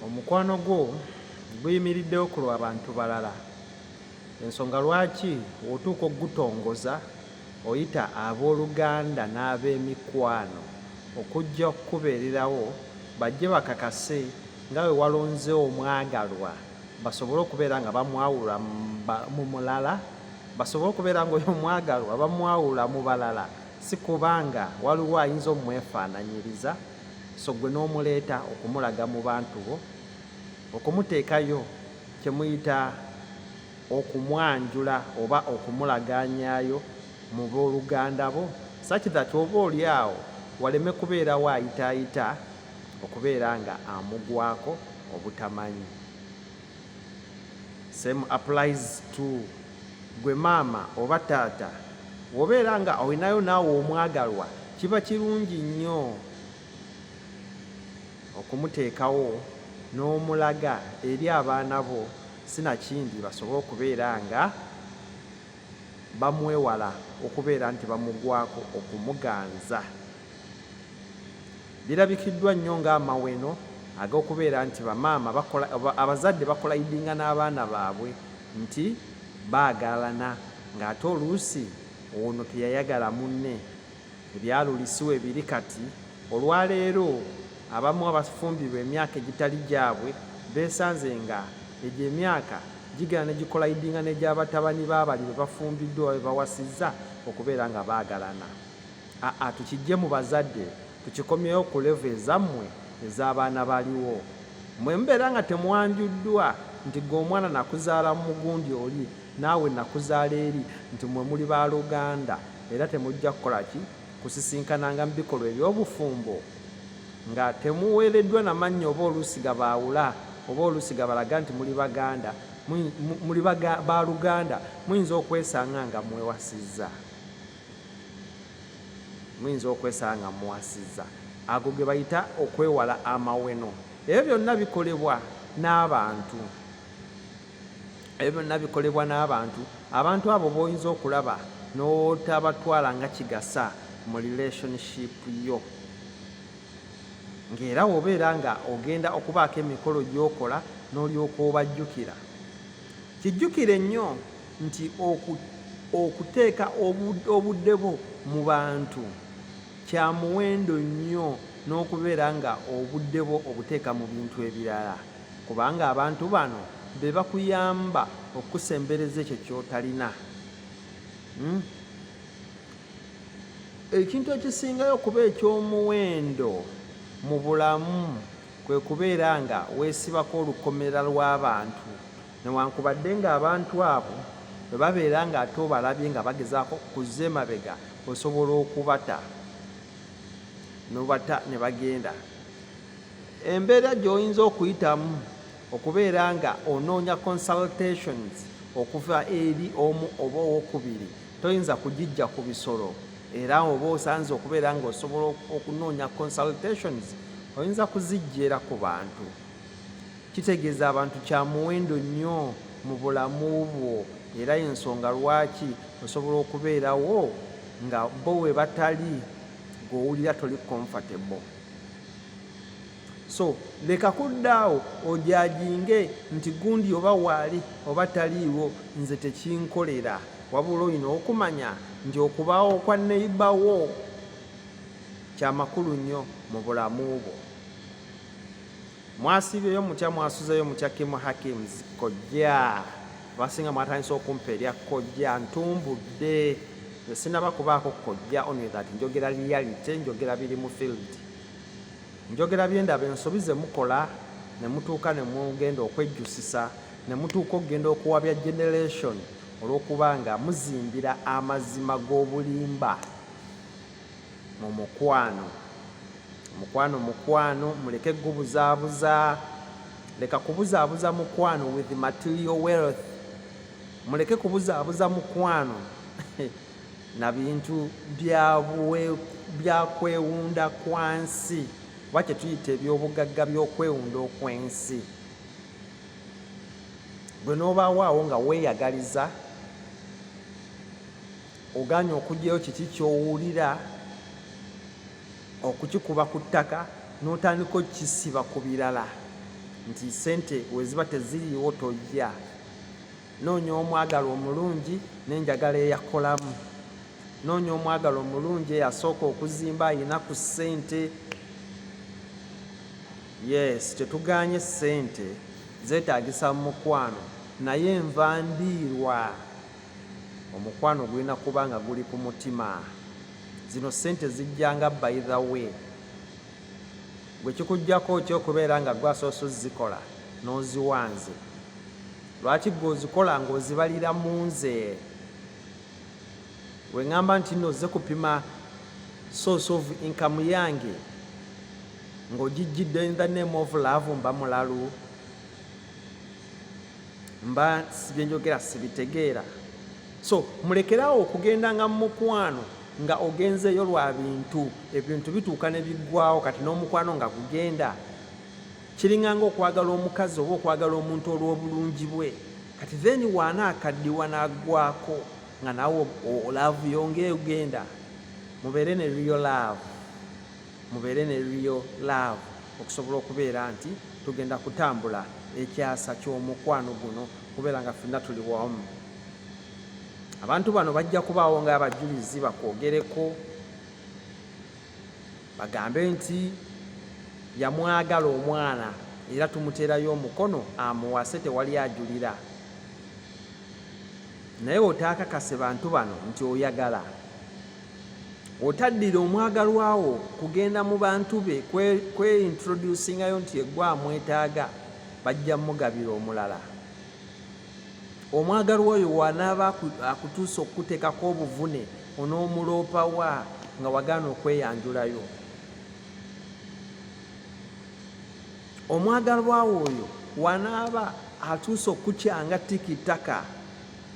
Omukwano gwo guyimiriddewo ku lwa bantu balala. Ensonga lwaki otuuka okugutongoza oyita abooluganda n'abeemikwano okujja okukubeererawo bajje bakakase nga bwe walonze omwagalwa basobole okubeera nga bamwawula mu mulala basobole okubeera nga oyo omwagalwa bamwawula mu balala si kuba nga waliwo ayinza omwefaananyiriza. so ggwe n'omuleeta okumulaga mu bantu bo okumuteekayo kye muyita okumwanjula oba okumulagaanyaayo mu booluganda bo such that oba oli awo waleme kubeerawo ayitaayita okubeera nga amugwako obutamanyi Same applies to gwe maama oba taata wobeera nga olinayo naawe omwagalwa kiba kirungi nnyo okumuteekawo n'omulaga eri abaana bo sinakindi basobole okubeera nga bamwewala okubeera nti bamugwako okumuganza Lirabikiddwa nnyo ng'amaweno ag'okubeera nti bamaama bakola abazadde bakolayidinga n'abaana baabwe nti baagalana ng'ate oluusi ono teyayagala munne. Ebyalulisi we biri kati, olwaleero abamu abafumbirwa emyaka egitali gyabwe beesanze nga egyo emyaka gigenda ne gikolayidinga n'egya batabani ba bali be bafumbiddwa oba be bawasizza okubeera nga baagalana. Aa tukijje mu bazadde tukikomyewo ku level ezammwe ez'abaana baliwo. Mwe mubeera nga temwanjuddwa nti ggwe omwana nakuzaala mu mugundi oli naawe nakuzaala eri nti mwe muli ba luganda era temujja kukola ki? Kusisinkananga mu bikolwa eby'obufumbo nga temuweereddwa na mannya oba oluusi gabaawula oba oluusi gabalaga nti muli baganda muli ba luganda muyinza okwesanga nga mwewasizza. muyinza okwesanga nga muwasizza ago ge bayita okwewala amaweno ebyo byonna bikolebwa n'abantu ebyo byonna bikolebwa n'abantu abantu abo b'oyinza okulaba n'otabatwala nga kigasa mu relationship yo ng'era wobeera nga ogenda okubaako emikolo gy'okola n'olyoka obajjukira kijjukire nnyo nti okuteeka obudde bwo mu bantu kya muwendo nnyo n'okubeera nga obudde bwo obuteeka mu bintu ebirala kubanga abantu bano be bakuyamba okukusembereza ekyo ky'otalina hmm? ekintu ekisingayo okuba eky'omuwendo mu bulamu kwe kubeera nga weesibako olukomera lw'abantu Newankubadde ng'abantu abo bwe babeera ng'ate obalabye nga bagezaako okuzza emabega, osobola okubata n'obata ne bagenda. Embeera gy'oyinza okuyitamu okubeera nga onoonya consultations okuva eri omu oba owokubiri toyinza kugijja ku bisolo era oba osanze okubeera ng'osobola okunoonya consultations oyinza kuzijjeera ku bantu Kitegeeza abantu kya muwendo nnyo mu bulamu bwo era y'ensonga lwaki osobola okubeerawo nga bo we batali ng'owulira toli comfortable. So leka kuddaawo ojajinge nti gundi oba waali oba taliiwo nze tekinkolera wabula olina okumanya nti okubaawo kwa neibawo kyamakulu nnyo mu bulamu bwo. mwasiibyeyo mutya mwasuzeyo mutya kimu hakims kojja basinga mwatandisa okumpa erya kojja ntumbudde esinaba kubaako kojja only that njogera reality njogera biri mu field njogera byendaba ensobi zemukola nemutuuka nemugenda okwejjusisa nemutuuka okugenda okuwabya generation olwokuba nga muzimbira amazima g'obulimba mu mukwano mukwano mukwano muleke gubuzaabuza leka kubuzaabuza mukwano with material wealth muleke kubuzaabuza mukwano na bintu byakwewunda kwa nsi oba kyetuyita ebyobugagga byokwewunda okwensi gwe nobaawaawo nga weeyagaliza Ogaanye okugyayo kiki ky'owulira, okukikuba ku ttaka n'otandika okukisiba ku birala nti sente we ziba teziriiwo tojja. Noonya omwagala omulungi n'enjagala eyakolamu. Noonya omwagala omulungi eyasooka okuzimba alina ku ssente. Yes, tetugaanye ssente, zeetaagisa mu mukwano naye nva ndiirwa. omukwano gulina kuba nga guli ku mutima zino sente zijjanga by the way gwe kikujjako okyokubeera nga gwasoose ozikola n'oziwanze lwaki gwe ozikola ng'ozibalira mu nze we ŋŋamba nti nno ozze kupima source of income yange ng'ogijjidde in the name of love mba mulalu mba sibyenjogera sibitegeera so mulekerawo okugenda nga mumukwano nga ogenzeeyo lwa bintu ebintu bituuka ne biggwawo kati n'omukwano nga gugenda kiringanga okwagala omukazi oba okwagala omuntu olw'obulungi bwe kati then waana akaddiwa n'aggwako nga nawe olaavu yonga egenda mubeere ne riyo laavu mubeere ne real love okusobola okubeera nti tugenda kutambula ekyasa ky'omukwano guno kubeera nga fenna tuli wamu abantu bano bajja kubaawo nga abajulizi bakwogereko bagambe nti yamwagala omwana era tumuteerayo omukono amuwase tewali ajulira naye otaakakase bantu bano nti oyagala Otaddira omwagalwa wo kugenda mu bantu be kweintroducingayo nti egwe amwetaaga bajja mugabira omulala. Omwagalwa oyo wanaaba akutuusa okukuteekako obuvune onoomuloopa wa nga wagaana okweyanjulayo? Omwagalwa wo oyo wanaaba atuusa okukukyanga tiki ttaka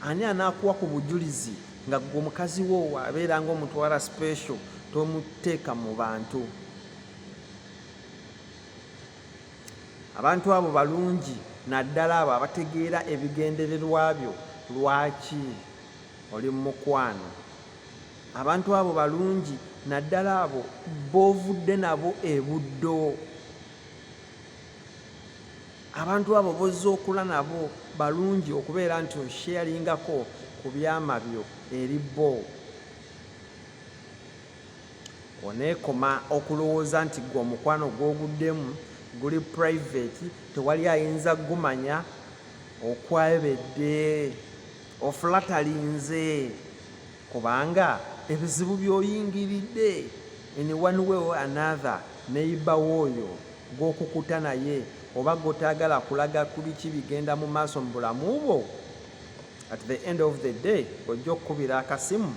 ani anaakuwa ku bujulizi? nga gwe mukazi wo abeera nga omutwala special tomuteeka mu bantu abantu abo balungi naddala abo abategeera ebigendererwa byo lwaki oli mumukwano abantu abo balungi naddala abo bovudde nabo ebuddo Abantu abo bozze okula nabo balungi okubeera nti osheeringako ku byama byo eri bo. Oneekoma okulowooza nti ggwe omukwano gw'oguddemu guli private tewali ayinza gumanya okwebedde. Ofulatalinze. kubanga ebizibu byoyingiridde in one way or another neyiba wooyo gwokukuta naye oba gotagala kulaga kubiki bigenda mu maaso mu bulamu bwo at the end of the day ojja okukubira akasimu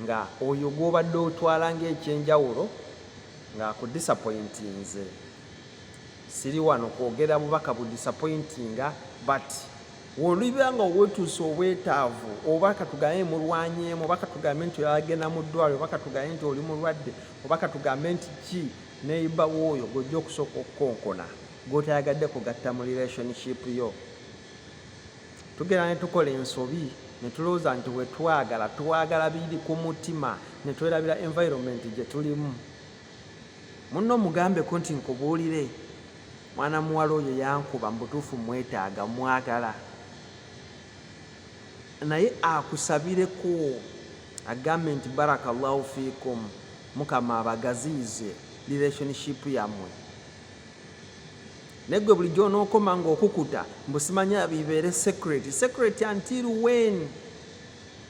nga oyo gwobadde otwala ngaekyenjawulo ngaakudisapointinze Siri wano kwogera bubaka bu disappointinga but woliba nga owetuusa obwetaavu oba katugambe mulwanyeemu oba katugambe nti oyagenda mu ddwali oba katugambe nti oli mulwadde oba katugambe nti ki neiba wooyo gwojja okusooka okukonkona gwotayagadde kugatta mu relationship yo tugenda ne tukola ensobi ne tulowooza nti wetwagala twagala biri ku mutima ne twerabira environment gye tulimu Munno mugambeko nti nkubuulire, mwana muwala oyo yankuba, mu butuufu mmwetaaga, mmwagala. Naye akusabireko, agambe nti baraka Allahu fiikum, Mukama abagaziyize relationship yammwe. Naye ggwe bulijjo onookoma ng'okukuta mbu simanya bibeere secret. Secret until when?